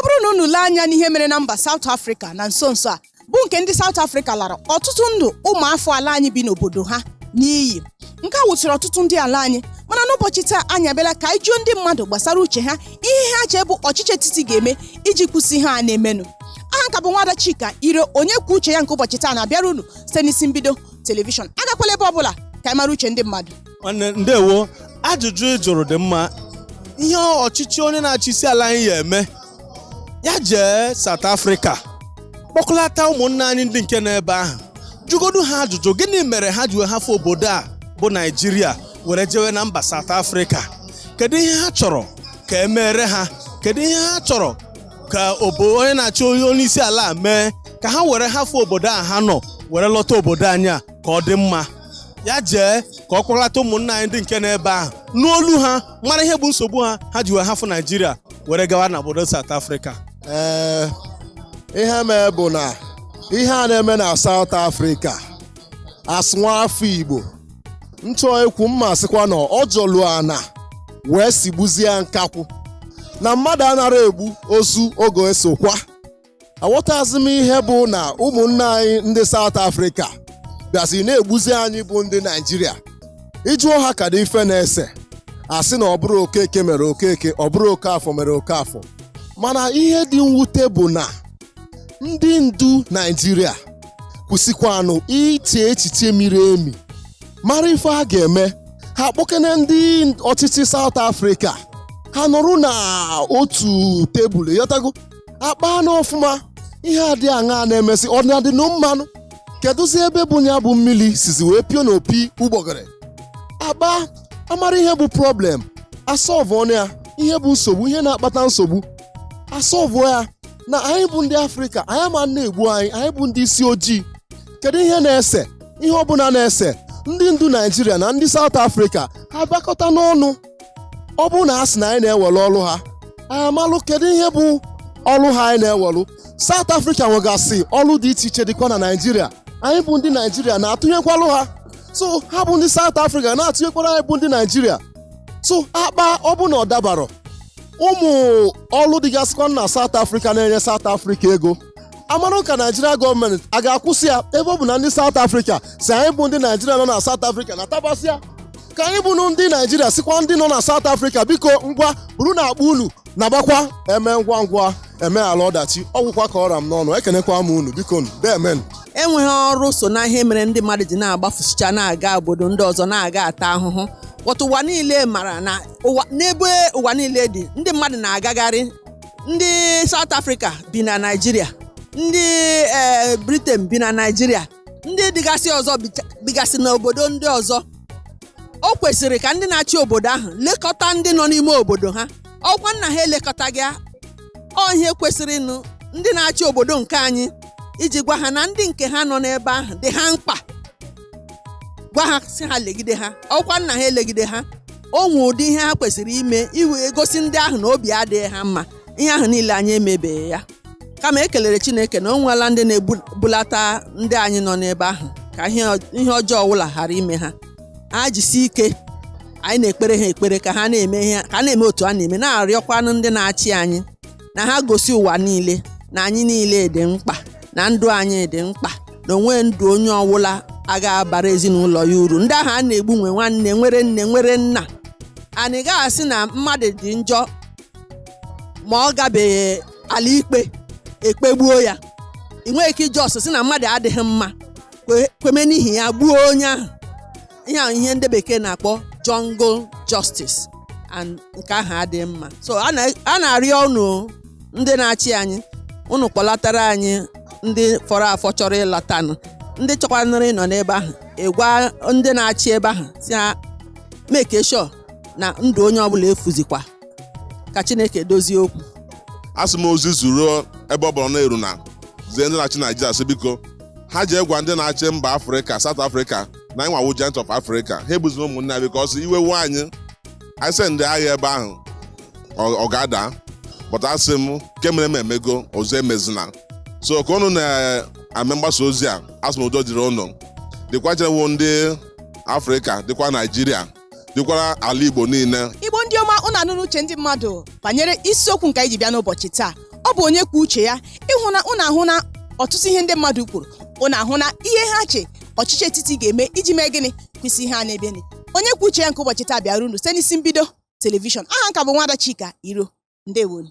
ọ bụrụ na unu lee anya n'ihe mere na mba South Africa na nso nso a bụ nke ndị South Africa lara ọtụtụ ndụ ụmụafọ ala anyị bi n'obodo ha n'iyi nke a wụsịrị ọtụtụ ndị ala anyị mana n'ụbọchị taa anyị abịala ka anyị jụọ ndị mmadụ gbasara uche ha ihe ha chee bụ ọchịchị etiti ga-eme iji kwụsị ihe a na-emenụ aha m ka bụ nwada Chika ire onye kwuo uche ya nke ụbọchị taa na-abịara unu site n'isi mbido telivishọn agakwala ebe ọ bụla ka anyị mara uche ndị mmadụ nwanne ndewo ajụjụ ị jụrụ dị mma ihe ọchịchị onye na-achị isi ala anyị ya-eme ya jee South Africa kpọkọlata ụmụnna anyị ndị nke n'ebe ahụ jụgodu ha ajụjụ gịnị mere ha ji wee hafụ obodo a bụ Naịjirịa were jewe na mba South Africa kedu ihe ha chọrọ ka e meere ha kedu ihe ha chọrọ ka obo onye na-achị onye isi ala a mee ka ha were hafụ obodo a ha nọ were lọta obodo anyị a ka ọ dị mma ya jee ka ọ kpọlata ụmụnna anyị ndị nke n'ebe ahụ nụ olu ha mara ihe bụ nsogbu ha ha ji wee hafụ naijiria were gawa na obodo South Africa ee ihe mee bụ na ihe a na-eme na South Africa as nwa afọ Igbo m chọọ ikwu m ma-asịkwa na ọ jọlụ ana wee sigbuzie nkakwụ na mmadụ anara egbu ozu ọ ga-eso kwaa aghọtazi m ihe bụ na ụmụnne anyị ndị South Africa bịazi na-egbuzi anyị bụ ndị Naijiria ị jụọ ha kedụ ife na-ese a sị na ọ bụrụ okeke mere okeke ọ bụrụ okafọ mere okafọ mana ihe dị mwute bụ na ndị ndu Naijiria kwesịkwanụ iche echiche miri emi mara ife a ga-eme ha kpọkene ndị ọchịchị South Africa ha nọrọ na otu tebụl ị ghọtago a kpaa n'ọfụma ihe a dị aṅaa na-emesị ọ na-adị na mmanụ kedụzi ebe bụ ya bụ mmiri sizi wee pio n'opi ụgbọgịrị a kpaa a mara ihe bụ problem a solve-ụọnụ ya ihe bụ nsogbu ihe na-akpata nsogbu a solve ya na anyị bụ ndị afrịka anyị ama na-egbu anyị anyị bụ ndị isi ojii kedu ihe na-ese ihe ọbụla na-ese ndị ndu naijiria na ndị saụt afrịka ha bịakọta n'ọnụ ọ bụrụ na a sị na anyị na-ewere ọrụ ha anyị amalụ kedu ihe bụ ọrụ ha anyị na-ewere South Africa nwegasị ọrụ dị iche iche dịkwa na Naịjirịa anyị bụ ndị Naịjirịa na-atụnyekwalụ ha so ha bụ ndị South Africa na-atụnyekwara anyị bụ ndị Naịjirịa so a kpaa ọ bụ na ọ dabarọ ụmụ ọrụ dịgasịkwa na South Africa na-enye South Africa ego a marụ ka naijiria gọọmenti a ga-akwụsị ya ebe ọ bụ na ndị saut afrịka sị anyị bụ ndị naijiria nọ na saut afrịka natabasịa ka anyị bụnụ ndị naijiria sịkwa ndị nọ na saut afrịka biko ngwa burunụ akpa unu na-agbakwa e mee ngwa ngwa e meghala ọdachi ọ gwụkwa ka ọ ra m n'ọnụ ekenekwa m unu biko nu demen enweghị ọrụ so n'ihe mere ndị mmadụ ji na-agbafusicha na-aga obodo ndị ọzọ na-aga ata ahụhụ but ụwa niile mara na ụwa n'ebe ụwa niile dị ndị mmadụ na-agagharị ndị South Africa bi na Naịjirịa ndị ee Britain bi na Naịjirịa ndị dịgasị ọzọ bicha- bigasị n'obodo ndị ọzọ o kwesịrị ka ndị na-achị obodo ahụ lekọta ndị nọ n'ime obodo ha ọ wụkwanụ na ha elekọtaghị ya ọ ihe kwesịrịnụ ndị na-achị obodo nke anyị iji gwa ha na ndị nke ha nọ n'ebe ahụ dị ha mkpa gwa ha sị ha legide ha ọ wụkwanụ na ha elegide ha o nwere ụdị ihe ha kwesịrị ime iwe gosi ndị ahụ na obi adịghị ha mma ihe ahụ niile anyị emebeghị ya kama ekelere Chineke na o nweela ndị na-ebulata ndị anyị nọ n'ebe ahụ ka ihe ọjọọ ọbụla ghara ime ha ha jisi ike anyị na-ekpere ha ekpere ka ha na-eme otu ha na-eme na-arịọkwanụ ndị na-achị anyị na ha gosi ụwa niile na anyị niile dị mkpa na ndụ anyị dị mkpa na o nweghị ndụ onye ọwụla agaghị abara ezinụlọ ya uru ndị ahụ a na-egbu nwe nwanne nwere nne nwere nna anyị gaghị asị na mmadụ dị njọ ma ọ gabeghị ụlọ ikpe e kpegbuo ya ị nweghị ike ị just sị na mmadụ adịghị mma kwe- kweme n'ihi ya gbuo onye ahụ ihe a ihe ndị bekee na-akpọ jungle justice and nke ahụ adịghị mma so a na- a na-arịọ unu ndị na-achị anyị unu kpọlatara anyị ndị fọrọ afọ chọrọ ịlatanụ ndị chọkwanụrụ ịnọ n'ebe ahụ ịgwa ndị na-achị ebe ahụ sị ha make sure na ndụ onye ọbụla efuzikwa ka chineke dozie okwu asị m ozi zuru ebe ọ bụla ọ na-eru unu zie ndị na-achị Naịjirịa sị biko ha jee gwa ndị na-achị mba afrịka South Africa na anyị nwa wụ giant of Africa ha egbuzina ụmụnne anyị because iwe wee anyị anyị send ndị agha ebe ahụ ọ ọ ga-ada but asị m nke mere eme emego ọzọ emezina so ka unu na-eme mgbasa ozi a asị m udo dịrị unu dịkwa chewo ndị afrịka dịkwa Naịjirịa dịkwara ala Igbo niile igbo ndị ọma unu anụna uche ndị mmadụ banyere isiokwu nke anyị ji bịa n'ụbọchị taa ọ bụ onye kwuo uche ya ị hụna unu ahụna ọtụtụ ihe ndị mmadụ kwuru unu ahụna ihe ha che ọchịchị etiti ga-eme iji mee gịnị kwụsị ihe a na-emenụ onye kwuo uche ya nke ụbọchị taa bịara unu site n'Isimbido Television aha m ka bụ nwada Chika Iro ndeewonụ